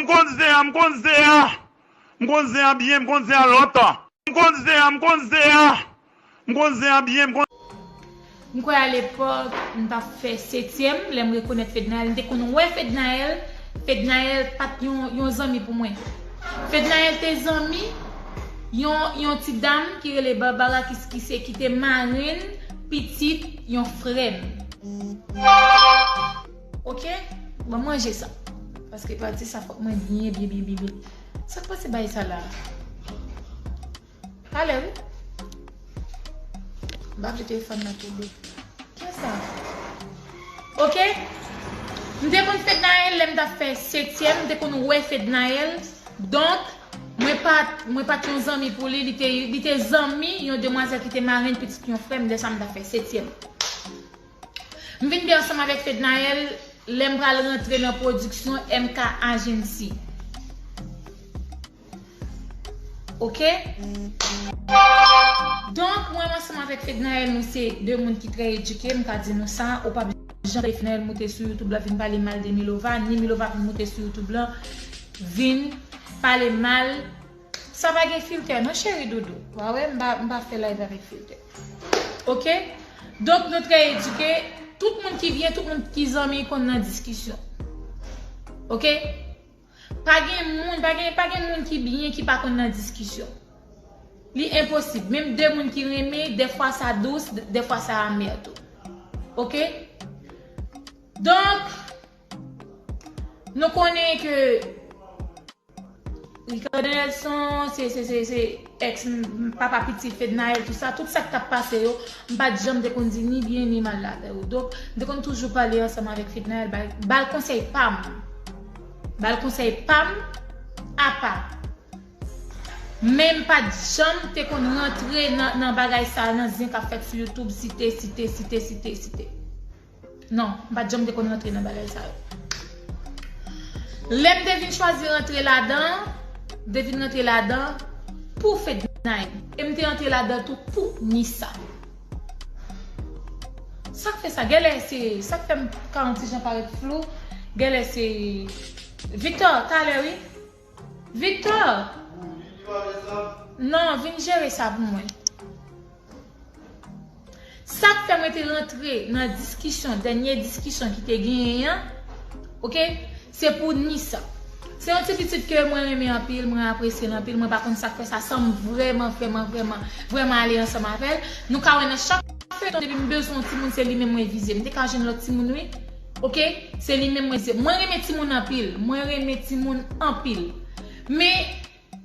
M konn zen an, m konn zen an. M konn zen an byen, m konn zen an lontan. M konn zen an, m konn zen an. M konn zen an byen, m konn. M kwè alepòk m t ap fè setyèm lè m rekonèt Fednaelle. M te konn wè Fednaelle. Fednaelle pa t yon zanmi pou mwen. Fednaelle te zanmi yon ti dam ki rele Barbara Kiskise ki te marenn pitit yon frè m. Ok Banm manje sa Paske pati sa fok mwen byen byen byen byen byen Sak pase bay sa la Pale wi M pa vle telefòn nan tonbe Kiyès sa Ok M te konn Fednaelle lèm tap fè setyèm m te konn wè Fednaelle donk mwen pat mwen pat yon zanmi pou li li te zanmi yon demwazèl ki te marenn pitit yon frèm lè sa m tap fè setyèm M vin gen ansanm avèk Fednaelle lè m pral rantre nan pwodiksyon MK Agency. Ok. Donk, mwen menm ansanm avèk Fednaelle nou se de moun ki trè edike, m ka di nou sa. Ou pap janm wè Fednaelle moute sou YouTube la vin pale mal de Milova, ni Milova vin moute sou YouTube la vin pale mal. Sa pa gen filtè non cheri doudou wa wè m pa fè live avèk filtè ok donk nou trè edike tout moun ki vyen tout moun ki zanmi konn nan diskisyon ok pa gen moun pa gen pa gen moun ki byen ki pa konn nan diskisyon li enposib menm de moun ki renmen defwa sa dous defwa sa amè tou ok donk. Nou konnen ke Ricardo Nelson se ex papa pitit Fednaelle tout sa, tout sak tap pase yo m pat janm te konn di ni byen ni mal avè yo. Donk m te konn toujou pale ansanm avèk Fednaelle bal konsèy pam. Bal konsèy pam apa. Men m pat janm te konn rantre nan bagay sa nan zen kap fèt sou youtube site site site site site. Non, m pa t janm te konn rantre nan bagay sa yo. Lè m te vin chwazi rantre ladan an, m te vin rantre ladan an pou Fednaelle. E m te rantre ladan an tou pou Nissa. Sa k fè sa? Genlè se, sa k fè m ka yon ti jan parèt flou, genlè se Victor, talè wi. Victor! Non, vin jere sa pou mwen. Sa k fè mwen te rantre nan diskisyon, dènye diskisyon ki te genyen an, ok, se pou Nisa. Se yon ti pitit ke mwen renmen anpil, mwen apresye l anpil, mwen pa konn sa k fè sa san m vrèman, vrèman, vrèman, vrèman ale ansanm avè l. Nou ka wè nan chak feyton depi m bezwen yon timoun se li menm mwen vize. M te ka jwenn lòt timoun wi. Ok se li menm mwen se. Mwen renmen timoun anpil. Mwen renmen timoun anpil. Men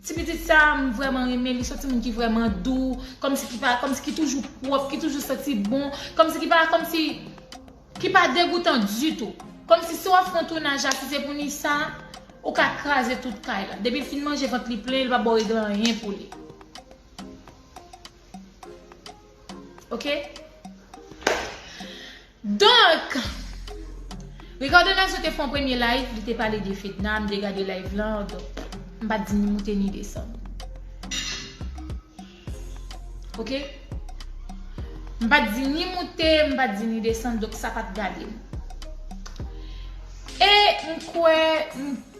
ti pitit sa a m vrèman renmen li. Son ti moun ki vrèman dou. Kòmsi ki pa kòmsi ki toujou pwòp. Ki toujou santi bon. Kòmsi ki pa kòmsi ki pa degoutan ditou. Kòmsi si w ap fè yon tounaj la si se pou Nisa ou ka kraze tout kay la. Depi l fin manje vant li plen li pa ba w regle anyen pou li. Ok. Donk, Ricardo Nazon te fè yon premye live, li te pale de Fedna, m te gade live lan, donk m pa t di ni moute ni desann. Ok? M pa t di ni moute, m pa t di ni desann, donk sa pa t gade m. E m kwè,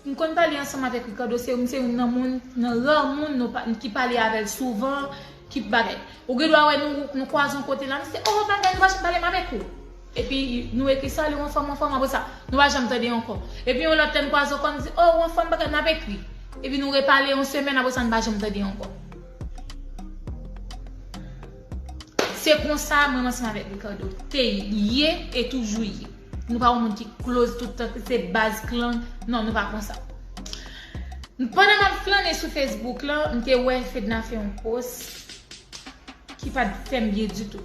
m konn pale ansanm avèk Ricardo, m se youn nan moun, nan ra moun ki pale avè l souvan, Ki bagay? Ou gen dwa wè nou kwaze yon kote la, nou se oh bagay nou pa janm pale m avèk ou. Epi nou ekri sali ou anfòm ou anfòm apre sa nou pa janm tande ankò. Epi yon lòt lè nou kwaze ankò nou di oh ou anfòm bagay nap ekri. Epi nou repale yon semèn apre sa nou pa janm tande ankò. Se konsa mwen m ansanm avèk Ricardo te ye e toujou ye. Nou pa yon moun ki close tout tan se baz klan non nou pa konsa. Pandan map flannen sou Facebook lan m te wè Fedna fè yon post ki pat fèm byen ditou.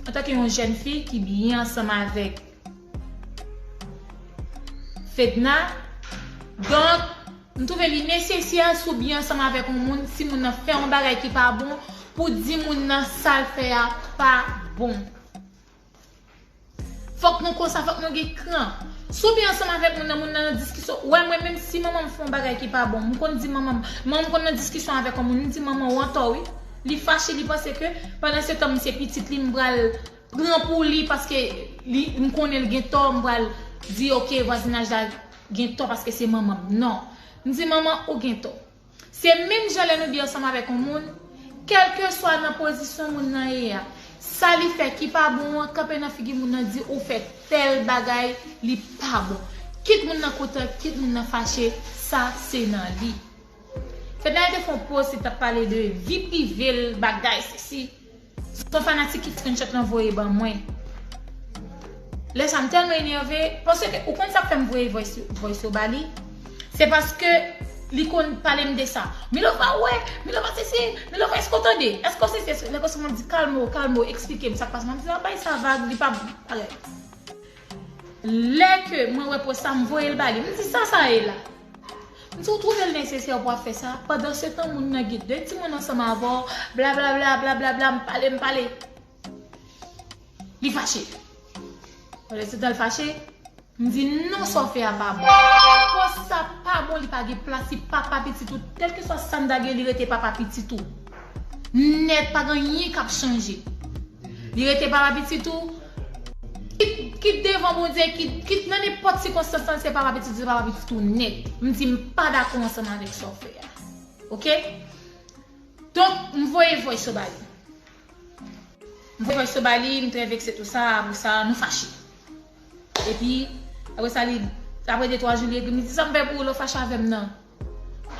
Antanke yon jèn fi ki byen ansanm avèk Fedna donk m twouve li nesesè si w byen ansanm avèk yon moun si moun nan fè yon bagay ki pa bon pou di moun nan sal fè a pa bon. Fòk nou konsa, fòk nou gen kran. Si w byen ansanm avèk moun nan, moun nan nan diskisyon, ou wè mwen menm si manman m fè yon bagay ki pa bon, m konn di manman m, manman m konn nan diskisyon avèk yon moun, m di manman ou antò wi. Li fache, li panse ke pandansetan m se pitit li m pral pran pou li paske li m konnen l gen tò, m pral di ok vwazinaj la gen tò paske se manman m. Non. M di manman ou gen tò. Se menm jan lè nou bi ansanm avèk yon moun, kèlkeswa nan pozisyon moun nan ye a, sa li fè ki pa bon an, kanpe nan figi moun nan di ou fè tèl bagay li pa bon. Kit moun nan kontan, kit moun nan fache, sa se nan li. Fednaelle te fè yon post li tap pale de vi prive l, bagay sesi. Son fanatik ki screenshot lan voye ban mwen. Lè sa m tèlman enève, paske ou konn sak fè m voye voice yo ba li? Se paske li konn pale m de sa. Milova ou wè, Milova sesi, Milova èske w tande, èske w sesi, èske w. Lè konsa map di kalme w, kalme w, eksplike m sak pase. Map di nan bay sa vag, li pa pale. Lè ke mwen wè post sa m voye l ba li. M di sa sa ye la? Si w twouve l nesesè pou w ap fè sa, pandansetan moun nan gen de timoun ansanm avè w, blablabla, blablabla, m pale, m pale. Li fache. Pandansetan l fache, m di, non sa w fè a pa bon. Pòs sa pa bon, li pa gen plas, li papa pitit ou. Kèlkeswa sa m ta gen, li rete papa pitit ou. Nèt pa gen anyen kap chanje li rete papa pitit ou kit devan bondye kit nan nenpòt sikonstans lan se papa pitit ou se papa pitit ou nèt m di m pa dakò ansanm avèk sa w fè a ok donk m voye voice yo ba li m voye voice yo ba li m trè vekse tou sa apre sa nou fache epi apre sa li apre de twa jou li ekri m li di sa m fè pou ou lè w fache avè m nan.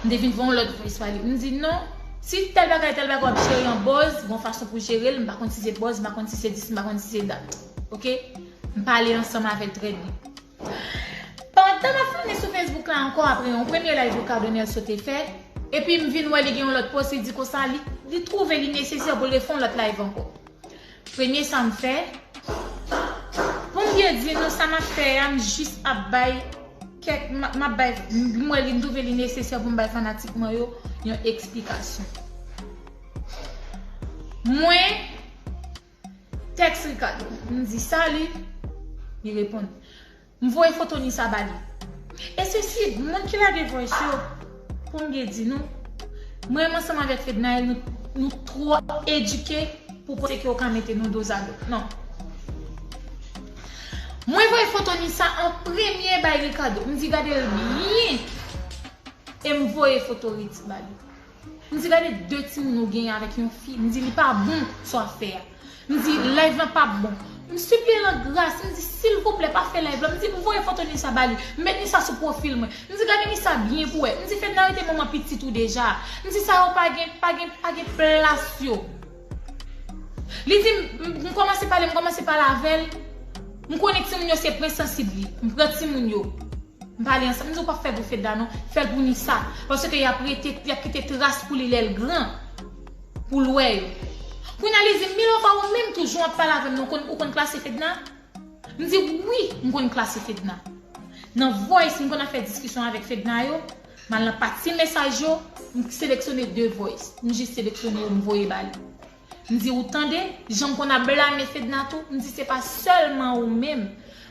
M te vin fè yon lòt vwayis pale. M di, non, si tèl bagay, tèl bagay w ap jere yon bòz, gen yon fason pou jere l. M pa konn si se bòz, m pa konn si se dis, m pa konn si se dat. Oke? M pale ansanm avè l trè byen. Pandan m ap flâne sou Facebook la ankò apre yon premye layv Ricardo Nelso te fè, epi m vin wè li gen yon lòt pwosedi konsa, li twouve li nesesè pou l refè yon lòt layv ankò. Premye sa m fè, poum byen di nou sa map fè a m jis ap bay kèk map bay m wè li m twouve li nesesè poum bay fanatik mwen yo yon eksplikasyon. Mwen tèks Ricardo, m di salut, li reponn. M voye foto ni sa ba li. E se si moun ki lage voice yo pou m gen di nou. Mwen ansanm avèk Fednaelle nou nou twò edike pou panse ke yo ka mete nou dozado. Non. Mwen voye foto ni sa an premye bay Ricardo. M di gade l byen e m voye foto Ritzy ba li. M di gade de timoun ou genyen avèk yon fi m di li pa bon sa w ap fè a m di live lan pap bon m sipliye l an gras m di silvouplè pa fè live lan m di m voye foto Nisa ba li m met Nisa sou pwofil mwen m di gade Nisa byen pou wè m di Fedna yo te manman pitit ou deja m di sa yo pa gen pa gen pa gen plas yo li di m m kòmanse pale m kòmanse pale avè l m konnen timoun yo se pwen sansib li m pran timoun yo. M pale ansanm m di w pa fèl pou Fedna non fèl pou Nisa paske yap rete yap kite tras pou li lèl gran pou l wè yo kounya li di m Milova ou menm tou jan wap pale avèm nan ou konn klase Fedna m di wi m konn klase Fedna nan voice m konn ap fè diskisyon avèk Fedna yo m al nan pati mesaj yo m seleksyone 2 voice m jis seleksyone yo m voye ba li. M di ou tande, jan m konn ap blame Fedna tou, m di se pa sèlman ou menm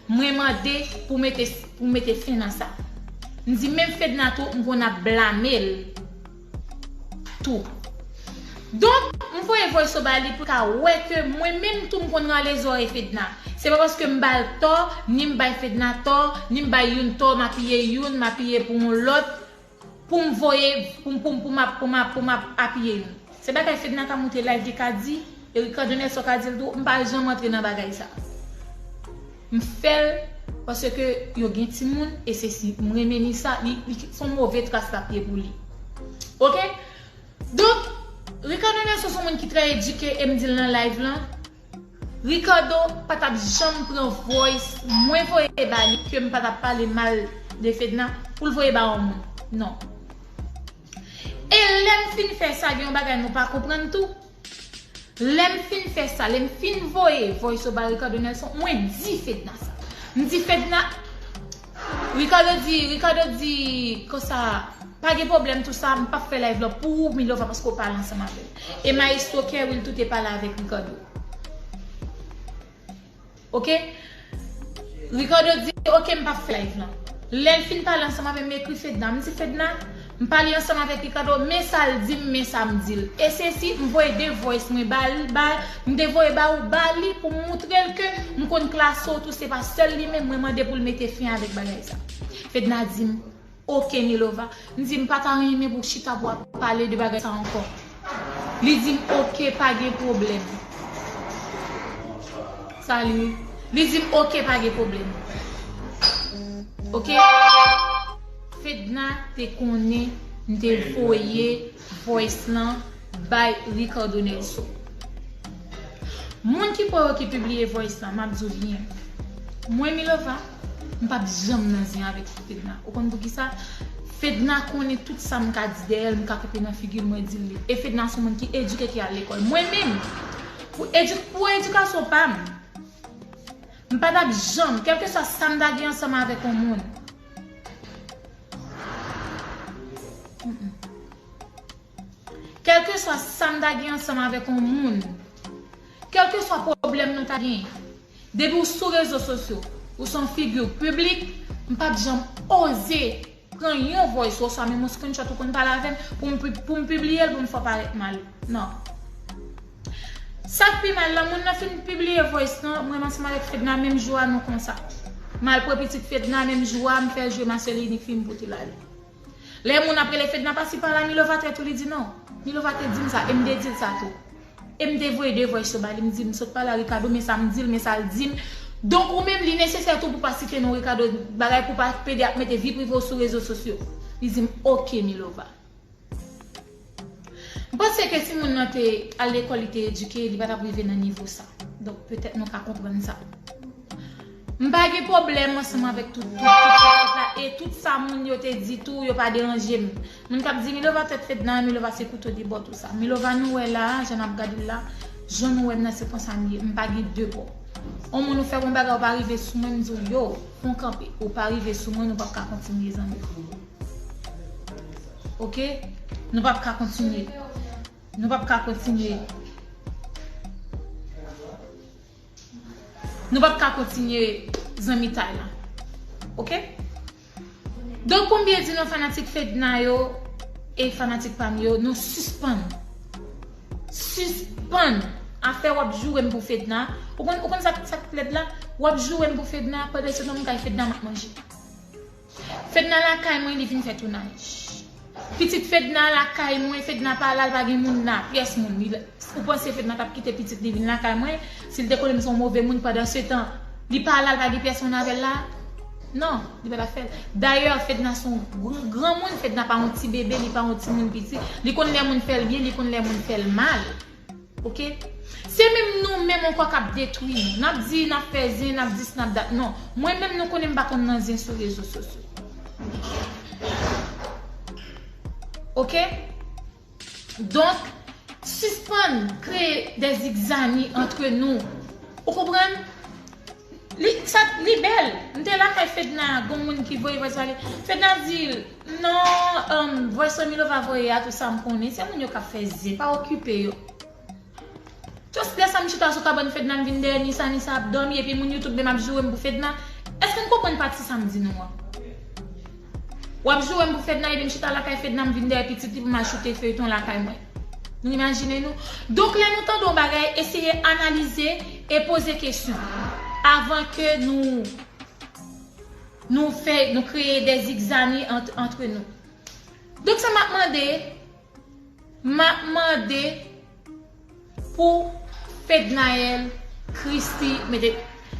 mwen mande pou mete pou mete fen nan sa. M di menm Fedna tou m konn ap blame l tou. Donk, m voye vòyso ba li pou l ka wè ke mwen menm tou m konn rale zòrèy Fedna. Se pa paske m ba l tò, ni m bay Fedna tò, ni m bay youn tò m apiye youn, m apiye pou yon lòt. Poum voye poum poum pou map pou map pou map apiye nou. Se bagay fedna ka moute live li ka di e ricardo nelson ka dil tou m pa janm antre nan bagay sa m fèl paske yo gen timoun e sesi m renmen ni sa li son move tras lap ye pou li ok donk ricardo nelson son moun ki trè edike em dil nan live lan. Ricardo pa tap janm pran voice mwen voye ba li kem pa tap pale mal de Fedna poul voye ba yon moun non e lem fin fè sa gen yon bagay nou pa konprann tou lem fin fè sa lem fin voye voice yo ba Ricardo Nelson mwen di Fedna sa m di Fedna Ricardo di Ricardo di konsa pa gen pwoblèm tou sa m pap fè live lan pou ou Milova paske w pale ansanm avè l e maestro Kerwill tou te pale avèk Ricardo ok Ricardo di ok m pap fè live lan lè l fin pale ansanm avè m m ekri Fedna m di Fedna M pale ansanm avèk Ricardo, men sa l di m, men sa m di l. E se si, m voye 2 voice mwen ba l, ba, m te voye ba ou, ba li pou m moutre l ke m konn klase w tou se pa sèl li menm mwen mande pou l mete fen avèk bagay sa. Fedna di m, Ok Milova. M di, M pa ta renmen pou w chita pou w ap pale de bagay sa ankò. Li di m, Ok, pa gen pwoblèm. Salut. Li di m, Ok, pa gen pwoblèm. Ok. Fedna te konnen m te voye voice lan bay Ricardo Nelson. Moun ki kwè yo ki pibliye voice lan, map di w byen. Mwen Milova, m pap janm nan zen avèk Fedna. Ou konn poukisa? Fedna konnen tout sa m ka di dèyè l, m ka koupe nan figi l, mwen di l li. E Fedna s on moun ki edike, ki al lekòl. Mwen menm, pou edik, pou edikasyon pa m, m pa tap janm, kèlkeswa sa m ta gen ansanm avèk on moun, Kèlkeswa sa m ta gen ansanm avèk yon moun, kèlkeswa pwoblèm nou ta gen, depi ou sou rezo sosyo, ou se yon figi piblik, m pa p janm oze pran yon voice ou oswa menm yon screenshot ou konn pale avè m pou m pibliye l pou m fè w parèt mal. Non. Sak pi mal la moun nan fin pibliye voice lan mwen ranseman avèk fedna menm jou a nou konsa malpre pitit fedna menm jou a mfè jwe ma sèl inik fim pou til ale lè moun ap rele fedna pasi pala milova trèt ou li di non milova te dim sa em te dil sa tou em te voye 2 voice yo ba li mdi msot pale a rikado men sam dil men sal dim donk ou menm li nesesè tou pou pa site non rikado bagay pou pa pede ap mete vi prive w sou rezo sosyo li dim ok milova. M panse ke si moun nan te al lekòl li te edike li pa tap rive nan nivo sa. Donk petèt nou ka konprann sa. M pa gen pwoblèm ansanm avèk tout tout tout sa yo la e tout sa moun yo te di tou yo pa deranje m. Moun kap di Milova tèt fedna, Milova se kouto de bò tou sa. Milova nou wè la a, jan nap gad l la, jan nou wè m nan se konsa m ye. M pa gen de bò. On moun ou fè m on bagay ou pa rive sou mwen m di w yoo, pran kanpe. Ou pa rive sou mwen nou pap ka kontinye zanmi. Ok, nou pap ka kontinye. Nou pap ka kontinye. Nou pap ka kontinye zanmitay la. Ok? Don pou m byen di nou fanatik Fedna yo e fanatik pa m yo, nou sispann. Sispann. Afè wap joure m pou Fedna. Ou konn sa k lèd la? Wap joure m pou Fedna pandan se nan m kay Fedna m ap manje. Fedna lakay mwen li vin fè tounaj. Pitit fedna lakay mwen fedna pa la l pa gen moun la pyès moun li ou panse fedna tap kite pitit li vin lakay mwen sil te konnen m son move moun pandan setan li pa la l pa gen pyès moun avèl la nan li pa tap fèl dayè fedna son granmoun fedna pa yon ti bebe li pa yon timoun piti li konn lè moun fèl byen li konn lè moun fèl mal. Ok Se menm nou menm ankò kap detwi nou nap di nap fè zen nap dis nap dat non mwen menm nou konnen m pa konn nan zen sou rezo sosyo ok donk sispann kreye dè zigzani antre nou ou konprann li sa li bèl m te lakay fedna gon moun ki voye vwaz pale fedna di l. Non voice milova voye a tou sam konnen se moun yo kap fè zen pa okipe yo just lè sam chita sou kabann fedna m vin dèyè nisa nisa ap dòmi epi moun youtube menm ap jourem pou fedna èske n konprann pati sam di nou an wap jourem pou fedna epi m chita lakay fedna m vin dèyè pitit li pou mal choute feyton lakay mwen nou imajine nou donk lè nou tande yon bagay eseye analize e poze kesyon avan ke nou. Nou fè, nou kreye dè zigzani ant, antre nou. Donk sa map mande, map mande pou Fednaelle Christy mete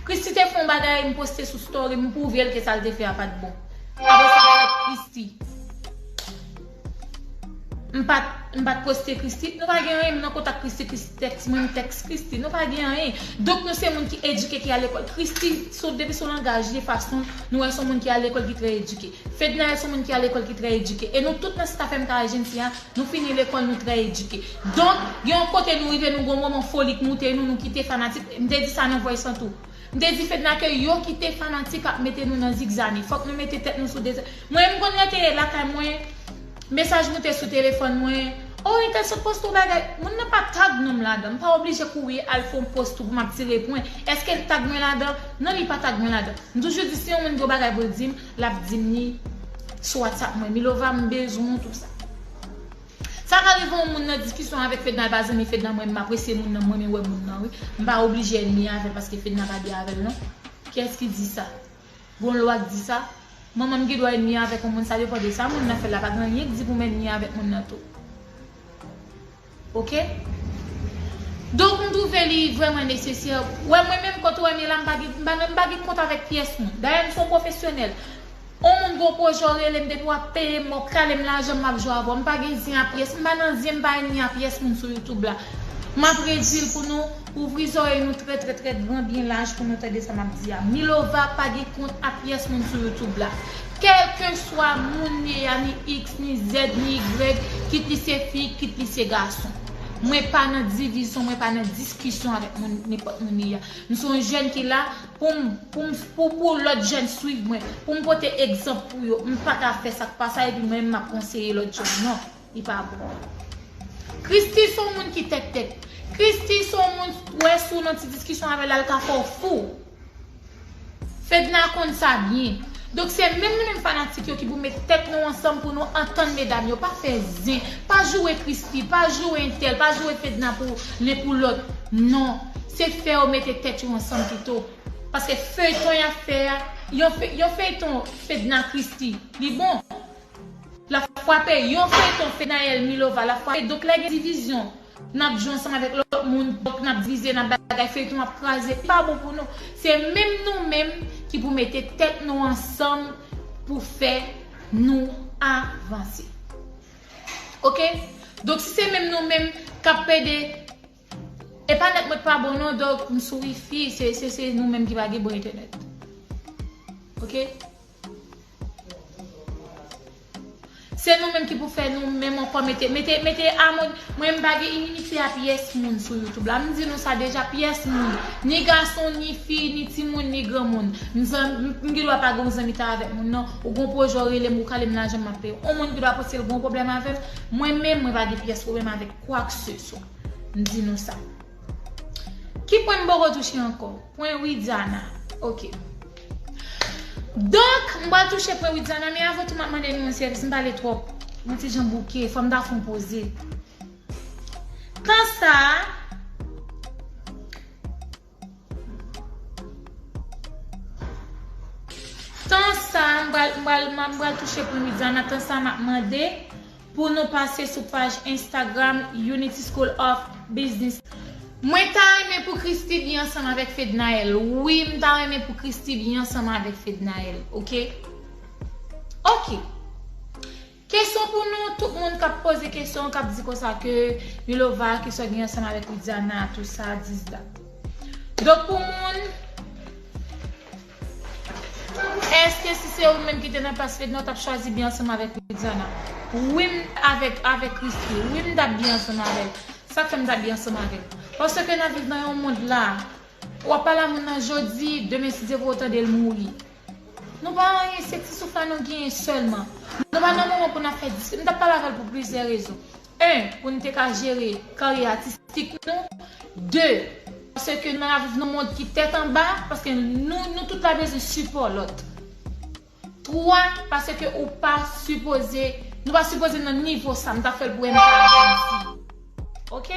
Christy te fè yon bagay m poste sou story m m pwouve l ke sa l te fè a pat bon. Apre sa fed Christy. M pat m pat poste Christie. Nou pa gen anyen m nan kontak Christie Christie tèks mwen m tèks Christie nou pa gen anyen donk nou se moun ki edike ki al lekòl Christie son depi son langaj li fason l nou wè l son moun ki al lekòl ki trè edike Fednaelle son moun ki al lekòl ki trè edike e nou tout nan staff MK Agency a nou fini lekòl nou trè edike donk gen yon kote nou rive nou gen yon moman foli k moute nou nou kite fanatik m te di sa nan voice lan tou. M te di Fedna ke yo ki te fanatik ap mete nou nan zigzani. Fòk nou mete tèt nou sou de zan. Mwen m konn rete lakay mwen, mesaj moute sou telefòn mwen, Oh entèl sot poste yon bagay. Moun nan pa tag non m ladan. M pa oblije kouri al fè yon post tou pou m ap tire pwen. Eske l tag mwen ladan? Non li pa tag mwen ladan. M toujou di si yon moun gen yon bagay pou l di m, l ap di m li sou whatsapp mwen. Milova m bezwen w tout sa. Sa ka rive yon moun nan diskisyon avèk fedna pa zanmi fedna mwen menm apresye moun nan mwen renmen wè moun nan wi mpa oblije ènmi avèl paske fedna pa gè avèl non kiyès ki di sa gon lwa k di sa manmanm gen dwa ènmi avèk yon moun sa depan de sa moun nan fè la pa gen anyen k di poum ènmi avèk moun nan tou ok donk m twouve li vrèman nesesè wè mwen menm kote wèm ye la mpa gen kont avèk pyès moun dayè m son pwofesyonèl. On moun gon pwojè w relem depi wap peyem mòp kalem lajanm map jwe avèw mpa gen zen a pyès mpa nan zen mpa ènmi a pyès moun sou youtube la map redil pou nou ouvri zòrèy nou trè trè trè gran byen laj pou nou tande sa map di a milova pa gen kont a pyès moun sou youtube la kèlkeswa moun ye a ni iks ni zèd ni igrèg kit li se fi kit li se gason mwen pa nan divizyon mwen pa nan diskisyon avèk moun nenpòt moun li a mson jèn ki la pou m pou m pou pou lòt jèn swiv mwen, pou m pote egzanp pou yo, m pa ta fè sa k pa sa epi mwen menm m ap konseye lòt jèn non, li pa bon. Christie se yon moun ki tèt tèt. Christie se yon moun ou wè si w nan ti diskisyon avè l al ka fè w fou. Fedna konn sa byen. Donk se menm nou menm fanatik yo ki pou met tèt nou ansanm pou nou antann medam yo. Pa fè zen, pa joure Christie, pa joure entèl, pa joure Fedna pou len pou lòt non. se fè yo mete tèt yo ansanm pito paske feyton yap fè a yon feyton fedna christy li bon lap fwape yon feyton fenaelle milova lap fwape donk lè gen divizyon nap jwe ansanm avèk lòt moun donk nap divize nap bagay feyton ap kraze li pa bon pou nou se menm nou menm ki pou mete tèt nou ansanm pou fè nou avanse ok donk si se menm nou menm kap pede. Epa net mwen t pa bon non dòk m sou wifi se se nou menm ki pa gen bon entènèt ok se nou menm ki pou fè nou menm ankò mete mete mete amoni mwen m pa gen inimite a pyès moun sou youtube la m di nou sa deja pyès moun ni gason ni fi ni timoun ni granmoun m zanm m gendwa pa gen yon zanmitay avèk moun nan ou gon pwojè ou rele m ou kale m lajan m ap peye w on moun gendwa panse l gon pwoblèm avè m mwen menm mwen pa gen pyès pwoblèm avèk kwak se swa. M di nou sa. Ki pwen m poko touche ankò? Pwen Widiana. Ok. Donk, m pral touche pwen Widiana, men avan tou m ap mande nou yon sèvis, m pale twòp. Mwen ti jan bouke, fò m ta fè yon poze. Tan sa a. Tan sa a, m pral m pral m pral touche pou Widiana, tan sa a m ap mande pou nou pase sou paj Instagram Unity School of Business. Mwen ta renmen pou Christie byen ansanm avèk Fednaelle wi m ta renmen pou Christie byen ansanm avèk Fednaelle ok ok. Kesyon pou nou tout moun kap poze kesyon kap di konsa ke milova ki sot gen ansanm avèk widiana tou sa dis dat donk pou moun eske si se ou menm ki te nan plas fedna ou tap chwazi byen ansanm avèk widiana wi m avèk avèk christy wi m tap byen ansanm avèl sak fèm ta byen ansanm avèl paske nap viv nan yon mond la wap pale a moun nan jodi demen si dye vre ou tandel mouri. Nou pa anyen se ti souf la nou genyen sèlman. Nou pa nan moman pou n ap fè diskisyon. M t ap pale avè l pou plizyè rezon. 1, Pou n te ka jere karyè atistik nou. 2, Paske n ap viv nan yon mond ki tèt anba, paske nou nou tout la bezwen sipò lòt. 3, Paske ou pa sipoze, nou pa sipoze nan nivo sa. M t ap fè l pou MK. Janm di. Ok?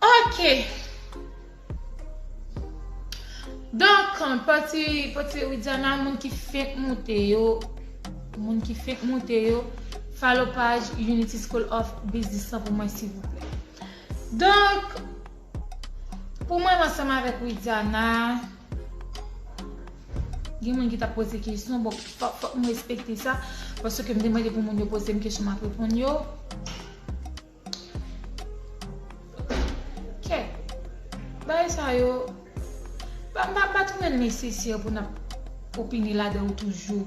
Ok Donk pati pati Widiana moun ki fenk moute yo moun ki fenk moute yo follow paj Unity School of Business lan pou mwen silvouplè. Donk pou mwen ansanm avèk Widiana gen moun ki ta poze kesyon bon fòk m respekte sa paske m te mande pou moun yo poze m kesyon m ap reponn yo. Kè bagay sa yo m pa trouve nesesè pou nap opine ladan yo toujou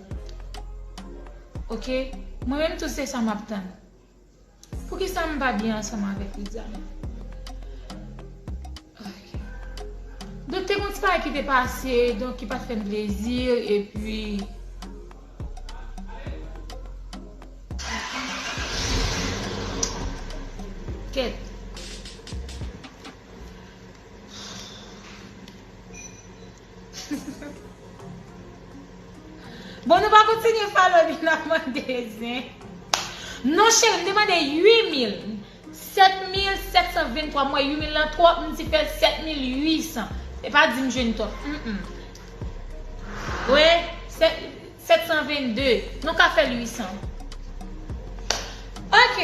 ok mwen menm tou se sa map tann poukisa m pa byen ansanm avèk Ritza menm. Donk te gon ti bagay ki te pase donk ki pat fèm plezi epi Kèt. Bon nou pa kontinye falo li nan mande zen. Non cheri m te mande 8000 7723 mwen 8000 lan twò m t fè 7800 e pa dim jwenn twòp humm we 722 nou ka fèl 800 ok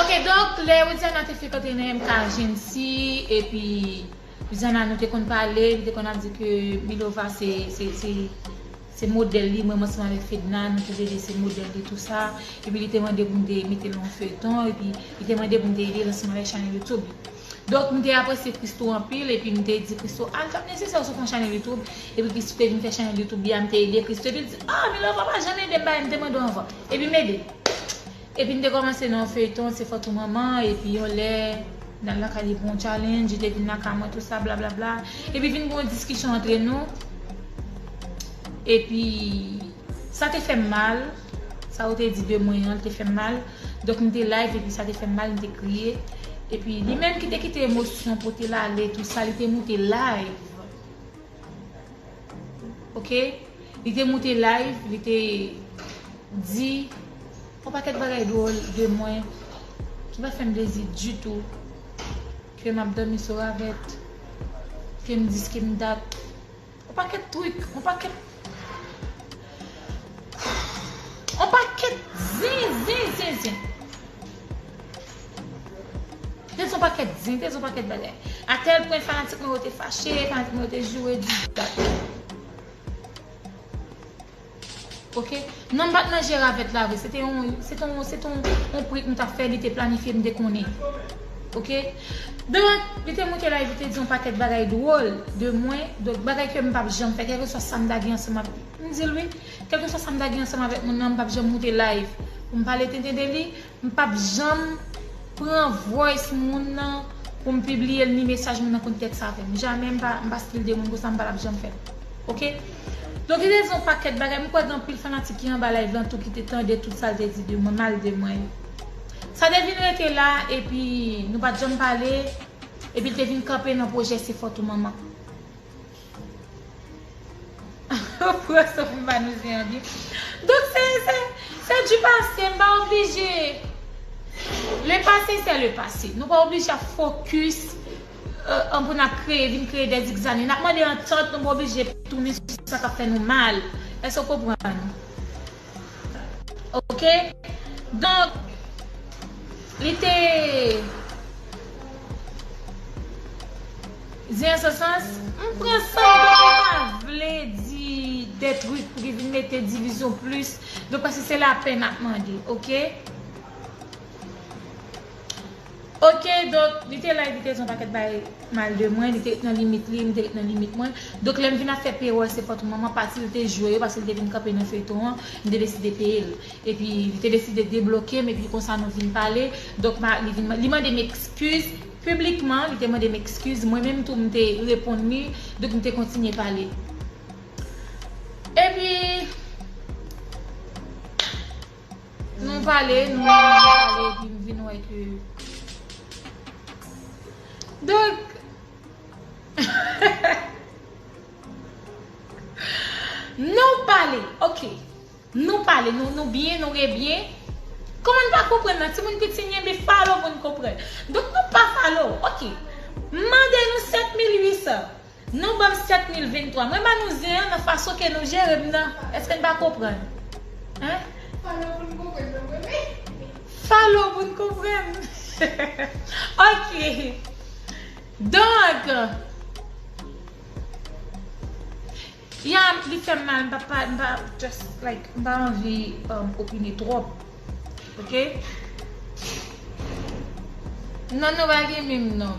ok donk lè widiana te fèk antre nan MK Jeancy epi widiana nou te konn pale li te konn ap di ke milova se se Se modèl li mwen ansanm avèk Fedna nou te vle se modèl li tou sa epi li te mande pou m te mete l nan yon feyton epi li te mande pou m te ede l ansanm avèk chanèl youtube li donk m te apresye Christoo anpil epi m te di Christoo ah li pap nesesè ou sot yon chanèl youtube epi Christoo te vin fè chanèl youtube li a m te ede Christoo epi l di ah Milova pa janm ede m bagay m te mande w anvan epi m ede l. Epi m te kòmanse nan yon feyton se fòt ou manman epi yon lè nal lakay li pou yon challenge li te vin lakay mwen tout sa blablabla epi vin gen yon diskisyon antre nou epi sa te fèm mal sa ou te di de mwen an te fèm mal donk m te live epi sa te fèm mal m te kriye epi li menm ki te kite emosyon pote l ale tout sa li te moute live. Ok Li te moute live Li te Di Yon pakèt bagay dwol de mwen Ki pa fèm plezi ditou Ke map domi sou ravèt Kem dis kem dat Yon pakèt twik Yon pakèt Yon pakèt Zin zin zin zin Te di yon pakèt di, te di yon pakèt bagay. A tèl pwen fanatik mwen yo te fache, fanatik mwen yo te joure di dat. Ok? Non m pat manje ravèt la vre, se te yon, se te yon, se te yon prank nou tap fè, li te planifye m te konnen. Ok? Donk, li te moute live li te di yon pakèt bagay dwòl de mwen, donk bagay ke m pap janm fè, kèlkeswa sa m ta gen ansanm avèk, m di l wi, kèlkeswa sa m ta gen ansanm avèk moun nan m pap janm moute live pou m pale tenten de li, M pap janm pran voice moun nan pou m pibliye l ni mesaj moun nan konn tèks avè m. Jamè m pa m pa stil de moun konsa m pa tap janm fè l ok. Don gen rezon w pakèt bagay m kwè gen anpil fanatik ki anba live lan tou ki te tande tout sa l te di de mwen mal de mwen yo. Sa te vin rete la epi nou pat janm pale epi l te vin kanpe nan pwojè se fòt ou manman. Ou pran san pou manouze an byen. Donk se, se, se du pase, m pa oblije. Le pase se le pase. Nou pa oblije ap fokis an pou n ap kreye, vin kreye de zigzani. N ap mande antant, nou pa oblije tounen sou sa k ap fè nou mal. Èske w konprann? Ok, donk, li te di an se sans, m pran sa m te konn pa vle di de truk pou ki vin mete divizyon plis, donk paske se lapè n ap mande, ok. Ok donk li te la epi li te di yon pakèt bagay mal de mwen, li te ret nan limit li, mwen te ret nan limit mwen. Donk lè m vin ap fè peyòl se fòt manman pati l te jwe yo paske l te vin kanpe nan feyton an, m te deside peye l. Epi li te deside debloke m epi konsa nou vin pale. Donk ma li vin li mande m ekskiz piblikman, li te mande m ekskiz, mwen menm tou m te reponn li, donk nou te kontinye pale. Epi. Nou pale, nou pale, nou pale epi m vin wè ke Donk Nou pale, ok Nou pale, nou byen, nou rebyen Kòman n pa konprann la timoun piti n genbe falo pou n konprann Donk nou pa falo, ok M mande nou 7800 Nou banm 7 mil vin 3. Mwen ba nou zen an nan fason ke nou jere m nan. Eske n pa konprann? Hein? Follow pou n konprann nan mwen menm. Follow pou n konprann. Ok. Donk. Ya li fè m mal m pa pa m pa just like m pa anvi opine twòp. Ok. Non nou pa gen menm nom.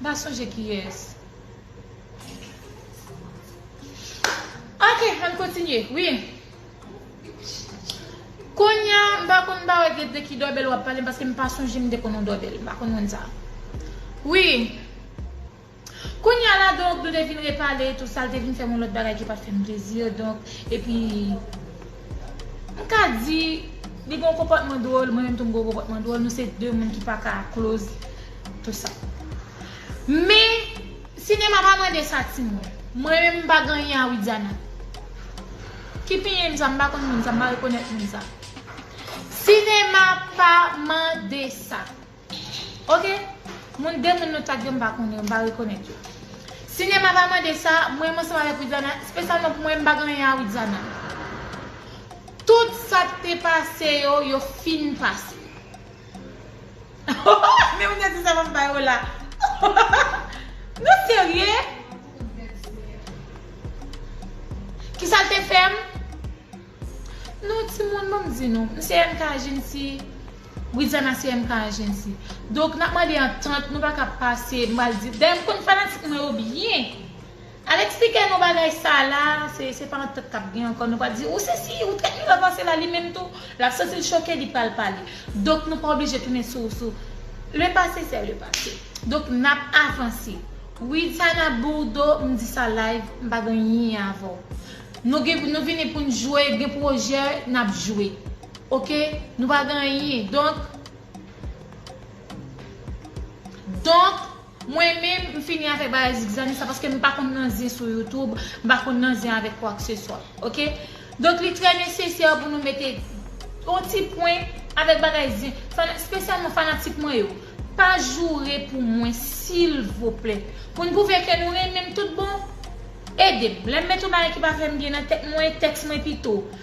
M pa sonje kiyès. Ok, ann kontinye. Wi. Konya, m pa konn ba wè de ki dòbèl w ap pale paske m pa sonje m te konn yon dòbèl. M pa konn moun sa. Wi. Konya la donk nou te fin repale e tou sa, l te vin fè m yon lòt bagay ki pa t fè m plezi donk epi m ka di li gen yon konpòtman dwòl mwen menm tou m gen yon konpòtman dwòl nou se de moun ki pa ka close. Tout sa. Men sinema pa mande sa timoun. Mwen menm m pa gen anyen a Widiana. Ki pinyin m sa m pa konn moun sa m pa rekonèt moun sa. Sinema pa mande sa. Ok moun de moun nou tak yo m pa konnen yo m pa rekonèt yo. Sinema pa mande sa mwen menm ansanm avèk Widiana spesyalman pou mwen m pa gen anyen a Widiana. Tout sa k te pase yo yo fin pase. Men moun yo di sa map bay ou la Nou serye? Kisal te fèm? Nou timoun banm di nou M se MK Agency Widiana se MK Agency Donk nap mande antant nou paka pase m pral di Dayè m konn fanatik mwen yo byen Al eksplike nou bagay sa la, se pa antant kap gen ankò nou pa di ou sesi ou trèt li ranvase la li menm tou lap santil choke li pral pale donk nou pa oblije tounen sou sou le pase sè le pase donk nap avanse wi Tana Bourdo m di sa live m pa gen yin avèw nou gen nou vini poun jwe gen pwojè nap jwe ok nou pa gen yin donk donk Mwen menm m fini avèk bagay zigzani sa paske m pa konn nan zen sou youtube m pa konn nan zen avèk kwakseswa ok donk li trè nesesè pou nou mete yon ti pwen avèk bagay zen spesyalman fanatik mwen yo pa joure pou mwen silvouplè pou n pwouve ke nou renmen m tout bon ede m lè m mete yon bagay ki pa fè m byen nan tèt mwen tèks mwen pito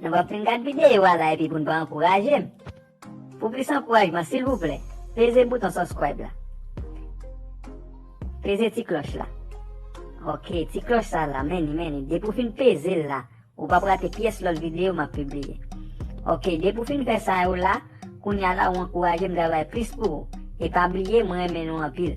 Nou pap fin gad videyo a la epi pou n pa ankouraje m. Pou plis ankourajman silvouplè peze bouton subscribe la. Peze ti klòch la. Ok ti klòch sa la men ni men ni depi w fin peze l la ou pap rate pyès lòt videyo map pibliye. Ok depi w fin fè sa yo la kounya la ou ankouraje m travay plis pou ou. E pa bliye mwen renmen nou anpil.